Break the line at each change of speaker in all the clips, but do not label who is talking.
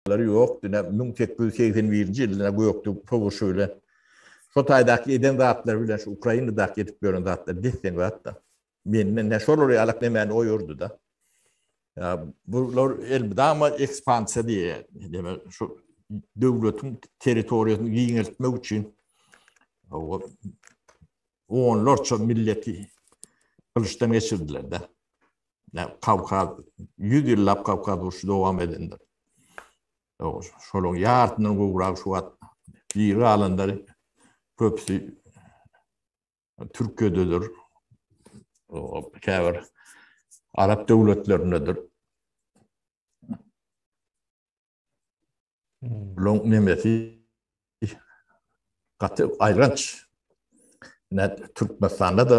ýaşamaklary ýok, diňe müň sekiz ýüz segsen birinji ýylda gökde soguşy bilen, şo taýdaky eden zatlary bilen şu Ukrainadaky edip ýören zatlary des-deň zat-da. Mende ne şolar ýalak, ne meni oýurdy-da. Ýa bular elmydama ekspansiýa diýýär. Demek, şu döwletiň territoriýasyny giňeltmek üçin o onlarça milleti gylyçdan geçirdiler-de. Kawkaz, ýüz ýyllap Kawkaz urşy dowam edendir. Şolaryň ýarysyndan gowragy şu wagt diri galanlary köpüsi Türkiýededir. Käbir arap döwletlerindedir. Long nemesi gaty aýlanç. Türkmenistanda-da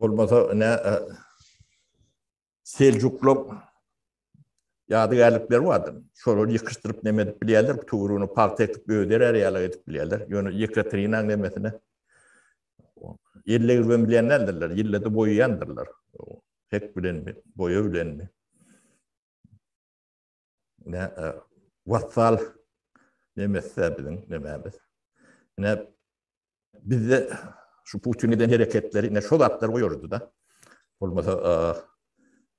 Bolmasa ne Selçuklar ýadygärlikleri bardy. Şolary ýykyşdyryp neme edip bilýärler, tugrunu pagta ekip öder ýaly edip bilýärler. Ýöne Ýekaterinaň nemesine ýelle girben bilýän däldirler, ýellede boýaýandyrlar. Hek bilenmi, boýa bilenmi? ne vassal nemesse biziň nemämiz. Ne bizde şu Putin eden hereketleri ne şol atlar goýurdy da. Bolmasa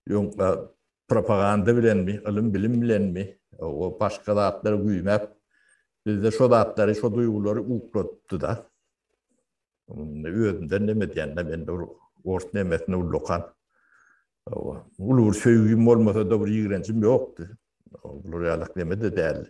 ýoň propaganda bilen mi, ilim bilim bilen mi, o başga zatlary güýmäp bizde şol zatlary, şol duýgulary uklatdy da. Özünden neme diýende men dur, ors nemesini ullakan. Hawa, uly bir söýgim bolmasa-da bir ýigrenjim ýokdy. Bular ýaly neme-de däldi.